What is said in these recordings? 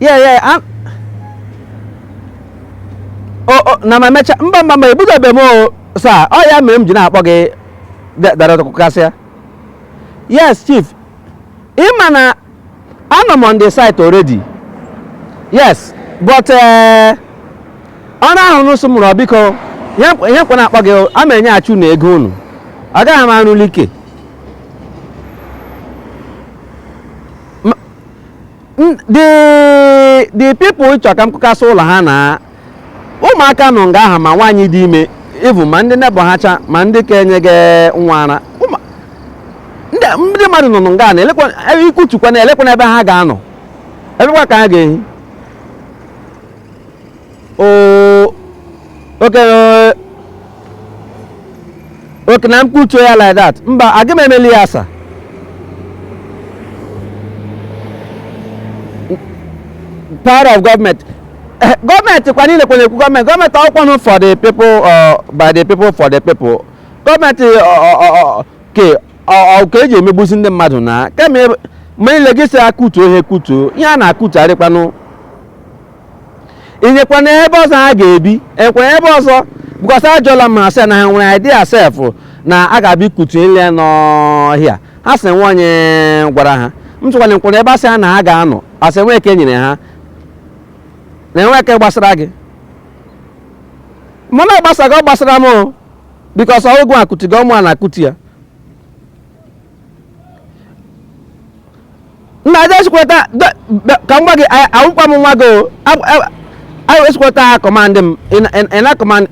yeah yeah I'm... oh, oh, na ma mecha mba mba mba ebidobe m o sir ọ ya mere m ji na-akpọ gị Director Kụkasịa yes chief ị ma na anọ m on the site already yes but eh, ọ na ọrụ unu sị m rụọ biko ihe m ka na-akpọ gị a ma enyechi unu ego unu agaghị m arụli ike the the people chọ ka m kụkasị ụlọ ha na ụmụaka nọ nga aha ma nwaanyị dị ime even ma ndị neighbour ha cha ma ndị ka enyega nwa ara ndị mmadụ nọ nọ nga na ị kụtukwanụ elekwanụ ebe ha ga-anọ ebekwa ka ha ga-ehi okay na m kụtuo ya like that mba aga m emeli ya sir power of government eh, government kwa niile kwere ekwu government government ọ kwanụ for the people uh, by the people for the people government ke a ka e ji emegbusi ndị mmadụ na kemgbe niile gị sị a kụtuo ihe kụtuo ihe a na-akụtu arịkwanụ i nyekwanụ ha ebe ọzọ ha ga-ebi e nyekwara ebe ọzọ because ajụọla m ha sị na ha nwere idea sef na a ga-abịa ịkụtu ihe niile nọ here ha sị enwe onye gwara ha m sịkwanụ elekwanụ ebe a sị ha na ha ga-anọ ha sị enwe ke e nyere ha na enwe ke gbasara gị mana ọ gbasara gị ọ gbasara m o because ọ wụ gịwa kụtuga ọ mụa na-akụtu ya nna aja esikweta ka m gwa gị awụkwa m nwa gị o anyị esikweta ha command m ị na command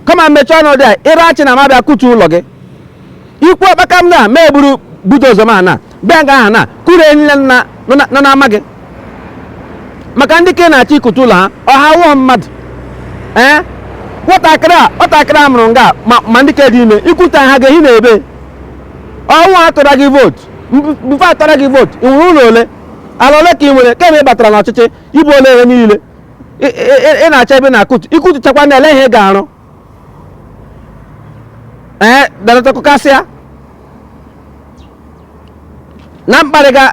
come on mechie ọnụ there ị ra achọ na m abịa kụtuo ụlọ gị i kwuo kpakam na ma eburu bulldozer m abịa nga aha na kụrie ihe niile nọ n'ama gị maka ndị ke ị na-achọ ịkụtu ụlọ ha ọ ha awụha mmadụ ee nwatakịrị a nwatakịrị a mụrụ nga ma ma ndị ke dị ime ị kụtuo ha ga-ehi na ebe ọ wụ ha tụra gị vote before atụra gị vote ị nwere ụlọ ole ala ole ka ị nwere kemgbe ị batara n'ọchịchị i buola ihe niile ị- ị- ị- ị na-achọ ebe a na-akụtu ị kụtuchakwanụ ele ihe ị ga-arụ ee Director Kụkasịa na mkparịga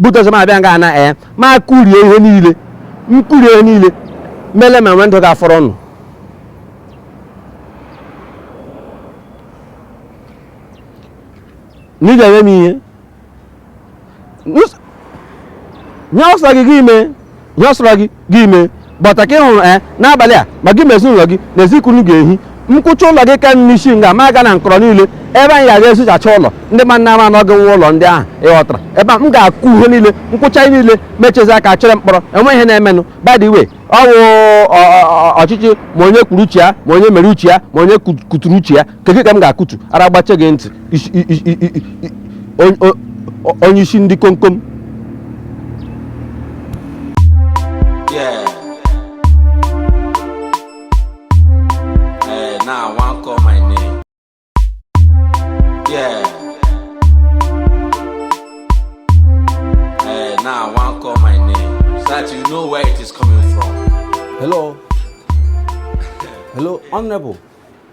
bulldozer m abịa nga ana ee ma kụrie ihe niile m kụrie ihe niile m ele ma nwe ndụ ga-afọrọ unu na ị ga-eme m ihe ihe ọ sọ gị gị mee ihe ọ sọrọ gị gị mee but ka ị hụrụ ee n'abalị a ma gị ma ezinụlọ gị n'ezi ka unu ga-ehi m kụchaa ụlọ gị ka n'isi nga ma aga na nkọrọ niile ebe anyị ga-aga esuchacha ụlọ ndị ma nna ama n'oge nwa ụlọ ndị ahụ ịghọtara ebe a m ga-akụ ihe niile m kụchaa ihe niile mechezi aka chere mkpọrọ enwe ihe na-emenụ by the way ọ wụ ọchịchị ma onye kwuru uche ya ma onye mere uche ya ma onye kuturu uche ya nke gị ka m ga-akụtu ara gbache gị ntị onye isi ndị komkom Honorable.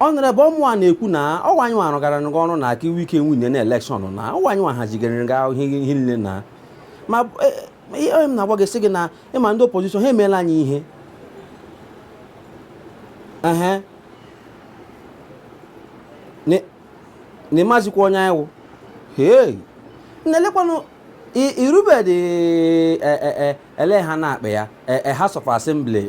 Honorable ọ mụwa na-ekwu na ọ wụ anyị nwa rụgara gị ọrụ na ka i nwee ike winie na elekshọn na ọ wụ anyị nwa hazigara gị ahụ ihe ihe niile na ma e, e, ihe m na-agwa gị sị gị na ị ma ndị opozishọn ha emeela anyị ihe ehe Ni- na ị mazikwa onye anyị wụ hei na-elekwanụ i- i rubedị e- e- e- ele ha na-akpọ ya e, e, House of Assembly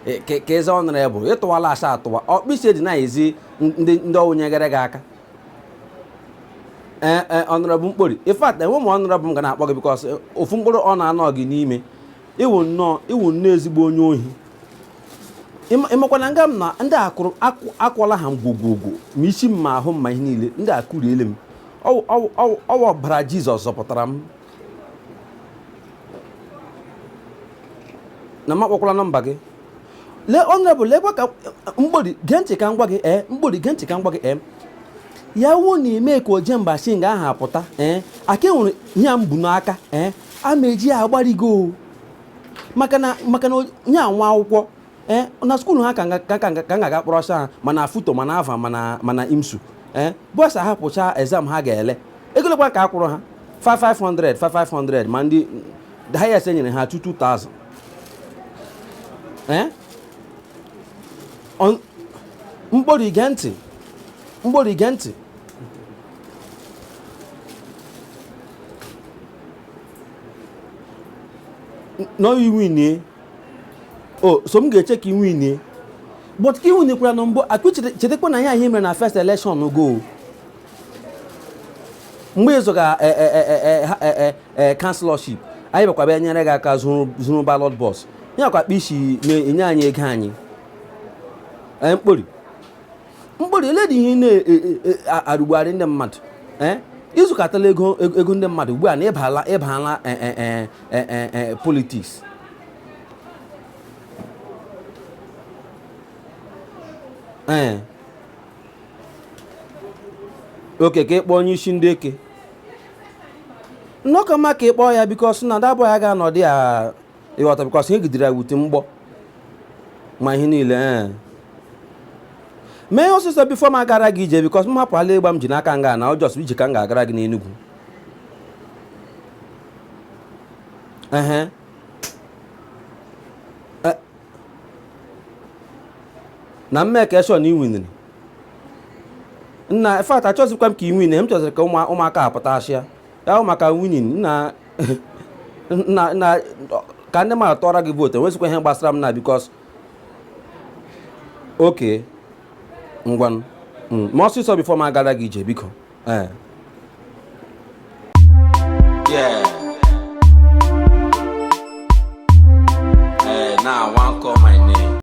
e, ka ị zaa Honorable ị tụwala asa atụwa ọkpịsị dị na-ezi ndị ọ wụ nyegara gị aka ee Honorable Mkpori in fact enwe m Honorable m ga na-akpọ gị because ofu mkpụrụ honour anọghị n'ime ị wụ nnọọ ị wụ nnọọ ezigbo onye ohi ị makwa na nga m nọ ndị akụrụ akụọla ha m gwogwogwo ma isi m ma ahụ m ma ihe niile ndị akụriele m ọ wụ ọbara Jizọs zọpụtara m na m akpọkwala nọmba gị lee Honorable lekwa ka Mkpori gee ntị ka m gwa gị ee Mkpori gee ntị ka m gwa gị ee ya wụ na i mee ka Ojemba shi nga ahụ apụta ee aka e nwere ihe a m bu n'aka ee a m eji ya agbari gị o maka na maka na onye nwa akwụkwọ ee na skuulu ha ka ga-aga kpọrọsa ha ma na FUTO ma na Alvan ma na ma na IMSU ee boys ahapụcha exam ha ga-ele ego ole kwa ka a kwụrụ ha 500 500 ma ndị the highest e nyere ha 2000 ee Mkpori i gee ntị Mkpori i gee ntị no i winie o so m ga-eche ka i winie but ka i winikwara na mbụ ahụ chetakwa na ihe anyị mere na first election gị mgbe ị zọga councillorship anyị bịakwa bịa nyere gị aka zuru ballot box ya kwa akpa isi na-enye anyị ego anyị Mkpori mkpụrụ ele dị ihe na-arụgbugharị e, e, e, ndị mmadụ i zukọtala ego ego ndị mmadụ ugbu a na ị bala ị bala politiks ee oke ka ị kpọọ onye isi ndị eke na ọ ka mma ka ị kpọọ ya bikos na dabụ ya ga-anọdụ ya ị ghọta bikọs ihe gidere ya wute mgbọ ma ihe niile ee mee ihe ọsịsọ bifo m agara gị ije bikọs m hapụala ịgba m ji n'aka nga na ọ jọs ije ka m ga-agara gị n'Enugwu ehe E- na m mekie shọ na i winiri nna infat achọzikwa m ka i win m chọziri ka ụmụ- ụmụaka apụta achịa ya maka winning na na ka ndị mmadụ tụọra gị vootu enwezikwa ihe gbasara m na bikos oke ngwanụ, mee ọsịsọ bifọ m agara gị ije biko ee